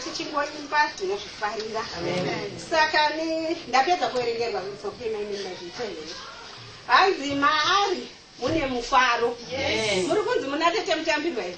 tichingoimba tinozvifarira saka ndapedza kuverengerwa kutsokemaimaimaita here hanzi maari mune mufaro muri kunzi muna tete mutambirwa here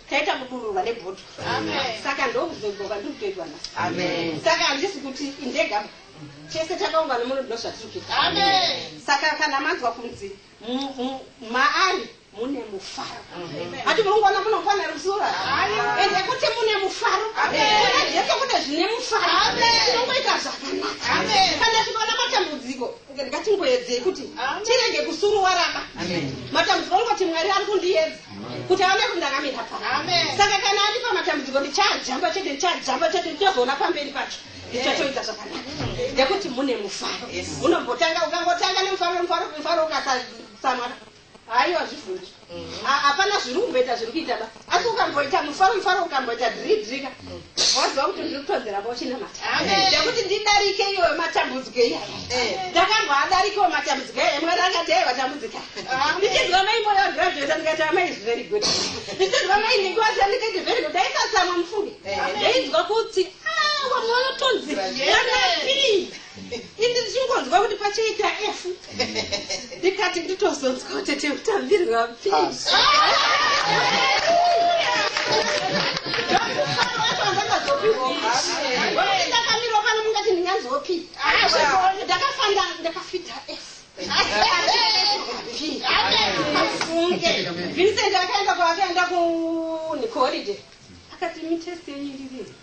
taita kudururwa nebhutwa saka ndokuzogoka ndiri kutoitwa na saka handisi kuti indega tese takaungana muno ndino zvatiri kuita saka kana manzwa kunzi maari mune mufaro ati munongona munofana rusura ende kuti mune mufaro kuna jesu kune zvine mufaro tinongoita zvakanaka kana tikaona matambudziko ngatingoedzei kuti tirege kusuruwaraba matambudziko ngoti mwari ari kundiyedza kuti aone kuti ndakamira pa saka kana ari pamatambudziko ndichajamba chete ndichajamba chete ndichazoona pamberi pacho ndichatoita zvakanaka nekuti mune mufaro unombotanga ukangotanga nemufaro mufaro mufaro ukatsamwana haiwa zvivhunzi hapana zviri kumboita zviri kuita ba asi ukamboita mufaro mufaro ukamboita dhiridhirika waziva kuti ndiri kutonzera bochinamata nekuti ndidarike iyoyo matambudziko iyayo ndakamboadarikewo matambudziko iyayo mwari akati ai vatambudzika ndichinzwa mai moyo graduate ndikati amai is very good ndichinzwa mai ndikuwasa ndikati very good daisatsamwa mufunge ndainzwa kuti ah, wamwe wanotonzi ini ndichingonzwa kuti pachaita f ndikati nditozonzwa kuti tiutambirwa pi ndakamirwa pano mungati ndinganzwopi ndakafanda ndakafita f afunge vincent akaenda kwaakaenda kunikoridhe akati mitest yenyu ndiviri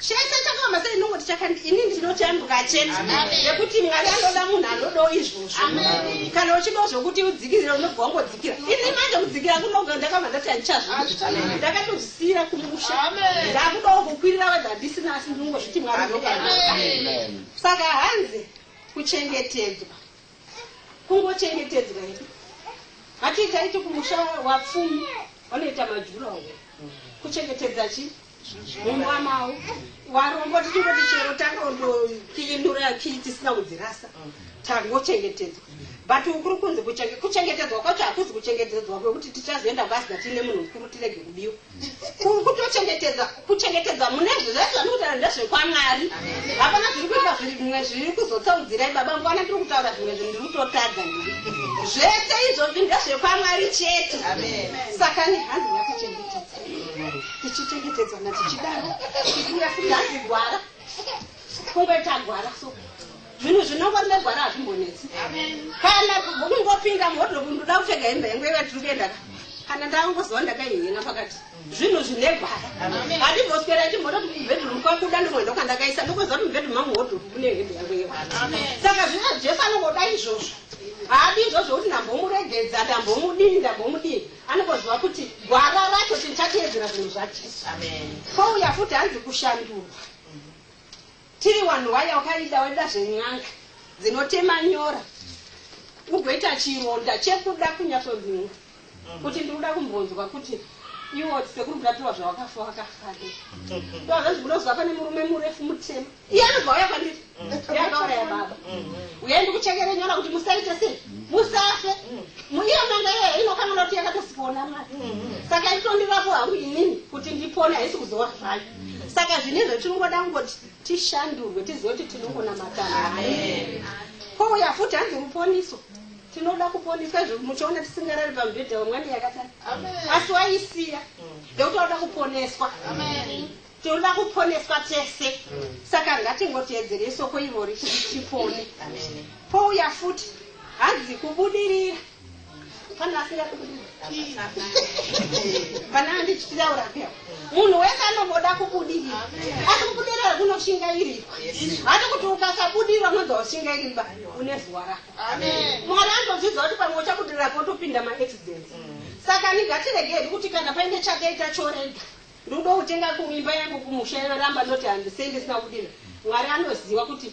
chese chakafamba sei ndongoti chakandi ini ndinochanduka chete nekuti mwari anoda munhu anodo izvozvo kana uchido zvokuti udzikirira unobva wangodzikira ini manje kudzikira kunoga ndakabva ndati handichazvii ndakatozvisiyira kumusha ndakudawo kukwirira vadha ndisina asi ndingozviti mwari saka hanzi kuchengetedzwa kungochengetedzwa hedu hati taiti kumusha wapfumi vanoita majura wo kuchengetedza chi mumba mavo warombo tichingoti chero tangondokiinura kii tisina kudzirasa tangochengetedzwa but ukuri kunzi kuchengetedzwa kwacho hakuzi kuchengetedzwa kwekuti tichazoenda kwasida tiine munhu mukuru tirege kubiwa kuri kutochengetedza kuchengetedza mune zvezvai zvani kutaura ndezvekwamwari hapana zviri kuita zvimwe zviri kuzotsaudzirai baba mvana tiri kutaura zvimwe zvinhu ndiri kutotadza ndiri zvese izvozvi ndezvekwamwari chete saka ni hanzi yakuchengetedza tichichengetedzana tichidaro tikuya futi hanzi gwara kungoita gwara so zvinhu zvinongoremegwara hazvimbonetsi kana kungopinda muhodlobu ndoda kupfeka hembe yangu yaiva tiri kuenda ka kana ndangozova ndakaihena pakati zvinhu zvinegwara handimboswera ndimbototi mubedroom kwakuda ndongoenda kwandakaisa ndokuziva kuti mubedroom mangu hodlobu mune hembe yangu yewa saka zvino jesu anongoda izvozvo haadi izvozvo kuti ndambomuregedza ndambomudini ndambomudini anongoziva kuti gwara racho tinchateedzera zvinhu zvajesu kwouya futi hanzi kushandurwa Tiri wanhu waya wakaida waida zven'anga dzinotema nyora ugoita chironda chekuda kunyatsonhinga kuti ndikuda kumbonzwa kuti iwo sekuru murapiwa zvawakafa wakafake ndozvazvi munoziva pane murume murefu mutema iye anobva uya kwandiri yakauraya baba uye ndikuchekere nyora kuti musaite sei musafe iyo nanga iye inokanganoti yakatosipoona mari saka itondirapo hangu inini kuti ndipone haisi kuzowa zvayo saka zvine zvatinongoda kungoti tishandurwe tizive kuti tinongonamatana kouya futi hanzi ruponiso tinoda kuponiswa izvo muchiona tisingarari pamubhedha wemwana yakadai asi waisiya nekuti wauda kuponeswa tinoda kuponeswa tese saka ngatingoteedzere isoko ivori tipone pouya futi hanzi kubudirira Kana asira kubudirira. Kana andichitira urapia. Munhu wese anoboda kubudirira. Asi kubudirira kunoshingairira. Hati kuti ukasabudirira unonzwa ushingairira une zuwa rako. Amen. Mwari anozviziva kuti pamwe uchabudirira potopinda maaccidents. Saka nigatiregei kuti kana paine chakaita chorega. Ndoda kutenga kumimba yangu kumusha yoramba ndoti handisei ndisina kudira. Mwari anoziva kuti